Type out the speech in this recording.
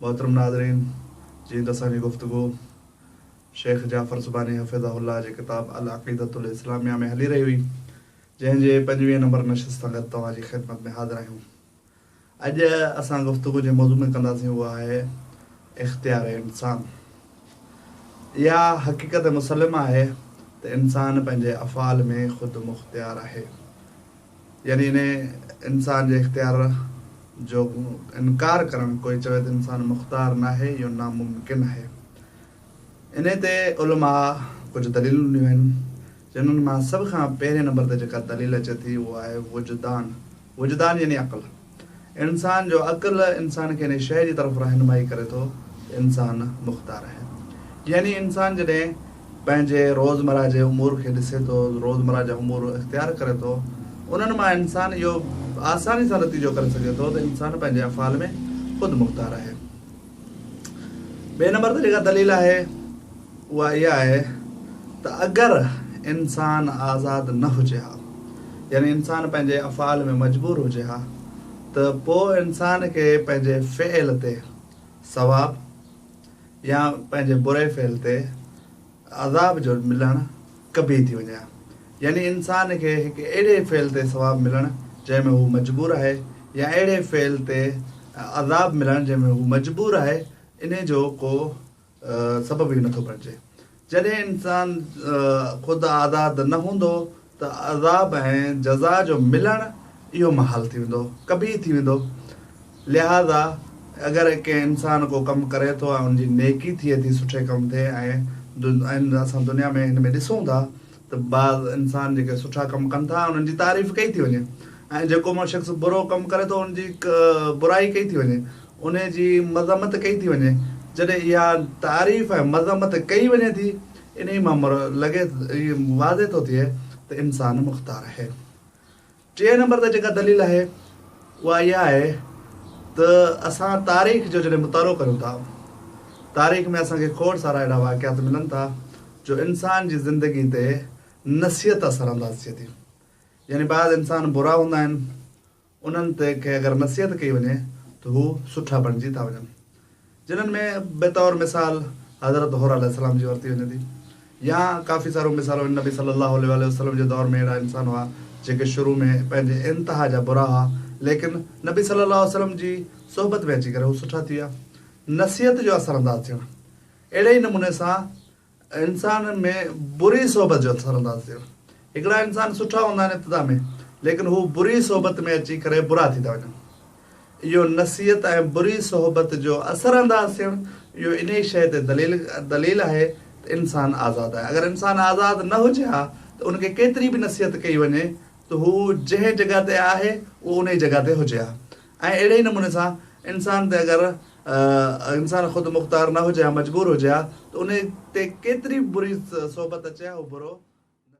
محترم ناظرين! جيئن ته اسان جي گفتگو شيخ جعفر سبحاني حفظه الله جي ڪتاب العقيدة الاسلاميه ۾ هلي رهي هئي، جنهن جي پنجويهين نمبر نشست سان گڏ توهان جي خدمت ۾ حاضر آهيون. اڄ اسان گفتگو جنهن موضوع ۾ ڪنداسين اهو آهي اختيار انسان. اها حقيقت مسلمه آهي ته انسان پنهنجي افعال ۾ خود مختيار آهي. يعني انهيء انسان جي اختيار جو انڪار ڪرڻ، ڪوئي چوي ته انسان مختار ناهي، اهو ناممڪن آهي. انهيء تي علماء ڪجهه دليلون ڏنيون آهن، جنھن مان سڀ کان پهرئين نمبر تي جيڪا دليل اچي ٿي، اهو آهي وجدان. وجدان يعني عقل. انسان جو عقل انسان کي انهي شيء جي طرف رهنمائي ڪري ٿو ته انسان مختار آهي. يعني انسان جڏهن پنهنجي روزمره جي امور کي ڏسي ٿو، روزمره جا امور اختيار ڪري ٿو، انهن مان انسان اهو آساني سان نتيجو ڪري سگهي ٿو ته انسان پنهنجي افعال ۾ خود مختار آهي. ٻئي نمبر تي جيڪا دليل آهي اها اها آهي ته اگر انسان آزاد نه هجي ها يعني انسان پنهنجي افعال ۾ مجبور هجي ها ته پوء انسان کي پنهنجي فعل تي ثواب يا پنهنجي بري فعل تي عذاب جو ملڻ ڪبي ٿي وڃي ها يعني انسان کي هڪ اهڙي فعل تي ثواب ملڻ جنهن ۾ هو مجبور آهي يا اهڙي فعل تي عذاب ملڻ جنهن ۾ هو مجبور آهي انهي جو ڪو سبب ئي نٿو بڻجي جڏهن انسان خود آزاد نه هوندو ته عذاب ۽ جزا جو ملڻ اهو محال ٿي ويندو، قبيح ٿي ويندو. لهٰذا اگر ڪنهن انسان ڪو ڪم ڪري ٿو ۽ ان جي نيڪي ٿئي ٿي، سٺي ڪم تي ۽ اسان دنيا ۾ هن ۾ ڏسون ٿا ته بعض انسان جيڪي سٺا ڪم ڪن ٿا انهن جي تعريف ڪئي ٿي وڃي ۽ جيڪو مڙس شخص برو ڪم ڪري ٿو ان جي برائي ڪئي ٿي وڃي، انهي جي مذمت ڪئي ٿي وڃي. جڏهن اها تعريف ۽ مذمت ڪئي وڃي ٿي. انهيء مان مر لڳي اهو واضح ٿو ٿئي ته انسان مختار آهي. ٽئين نمبر تي جيڪا دليل آهي اها اها آهي ته اسان تاريخ جو جڏهن مطالعو ڪريون ٿا، تاريخ ۾ اسان کي کوڙ سارا اهڙا واقعات ملن ٿا جو انسان جي زندگي تي نصيحت اثرانداز ٿئي ٿي. يعني بعض انسان برا هوندا آهن. انهن تي ڪنهن اگر نصيحت ڪئي وڃي ته هو سٺا بڻجي ٿا وڃن. جنهن ۾ بطور مثال حضرت حره عليه السلام جي ورتي وڃي ٿي. يا ڪافي ساريون مثالون آهن نبي صلي الله عليه واٰله وسلم جي دور ۾ اهڙا انسان هئا جيڪي شروع ۾ پنهنجي انتها جا برا هئا ليڪن نبي صلي الله عليه وسلم جي صحبت ۾ اچي ڪري هو سٺا ٿي ويا. نصيحت جو اثر انداز ٿيڻ اهڙي ئي نموني سان انسانن ۾ بري صحبت جو اثر انداز ٿيو. هڪڙا انسان سٺا هوندا آهن ابتدا ۾ ليڪن هو بري صحبت ۾ اچي ڪري برا ٿي ٿا وڃن. اهو نصيحت ۽ بري صحبت جو اثر انداز ٿيڻ اهو انهي شيء تي دليل دليل آهي ته انسان آزاد آهي. اگر انسان آزاد نه هجي ها ته ان کي ڪيتري به نصيحت ڪئي وڃي ته هو جنهن جڳهه تي آهي اهو انهي جڳهه تي هجي ها ۽ اهڙي ئي نموني سان انسان تي اگر انسان خود مختار نه هجي ها مجبور هجي ها ته انهي تي ڪيتري بري صحبت اچي ها اهو برو.